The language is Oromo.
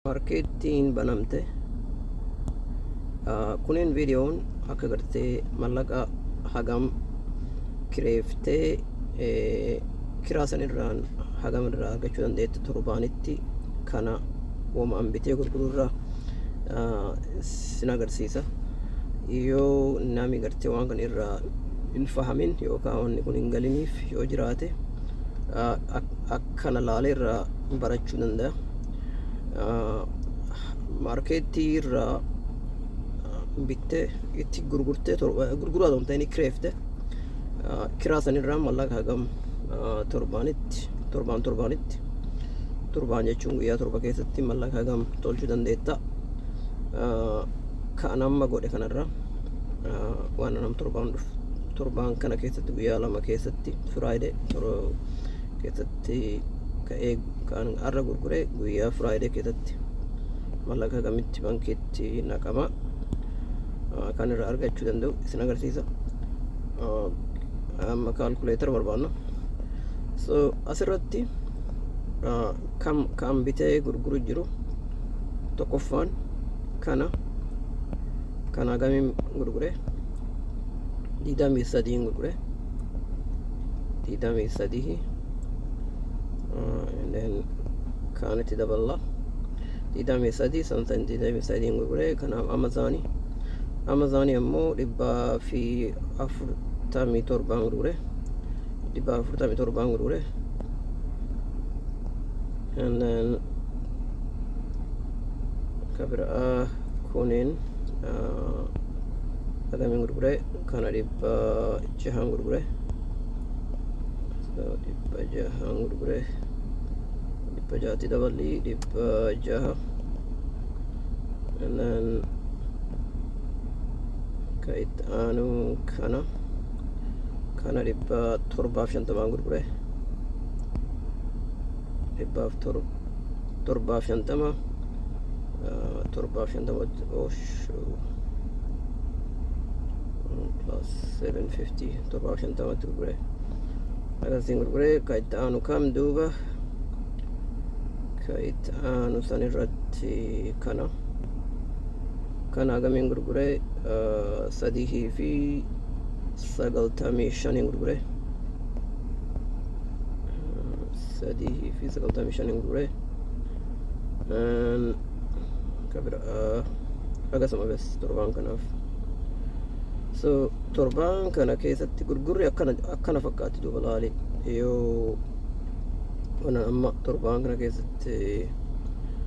Markeettiin banamte kunin viidiyoon akka gartee mallaqa hagam kireeftee kiraa san irraan hagam irraa argachuu dandeettu torbaanitti kana wamaan bitee gurguruu irraa sin agarsiisa yoo nami gartee waan kan irraa hin fahamin yookaan wanni kun hin galiniif yoo jiraate kana laalee irraa barachuu danda'a. Maarkeettii irraa bittee itti gurgurtee gurguraa ta'u ta'in kireefte kiraa sanirraa mallaqa hagam torbaanitti torbaan torbaanitti torbaan jechuun guyyaa torba keessatti mallaqa hagam tolchuu dandeetta. Kan amma godhe kanarraa waan nam torbaan dhufu torbaan kana keessatti guyyaa lama keessatti firaayidee keessatti ka'ee kan har'a gurgure guyyaa firaayidee keessatti mallaqa kamitti bankiitti naqama kan irraa argachuu danda'u isin agarsiisa amma kaalkuleetara barbaanna so asirratti kam kan bitee gurguru jiru tokkoffaan kana kana gamiin gurgure digdamii sadiin gurgure digdamii sadii kaanitti daballa digdamii sadii samsan digdamii sadiin gurgure kanaaf amazaanii amazaanii ammoo dhibbaa fi afurtamii torbaan gurgure dhibbaa afurtamii torbaan gurgure and then ka biraa kuniin agamiin gurgure kana dhibba jahaan gurgure so dhibba jahaan gurgure dhibba jaatti daballi dhibba jaha nan ka itti aanu kana kana dhibba torbaaf shantamaan gurgure dhibbaaf tor- torbaaf shantama ah, torbaaf shantama oshuu plus 750 torbaaf shantamatti gurgure akkasiin gurgure ka itti aanu kam duuba ka itti aanu san irratti kana kana agamiin gurgure sadihii fi sagaltamii shaniin gurgure sadihii fi sagaltamii shaniin gurgure kabira akkasuma bes torbaan kanaaf so torbaan kana keessatti gurgurri akkana akkana fakkaatti duuba laali yoo waan amma torbaan kana keessatti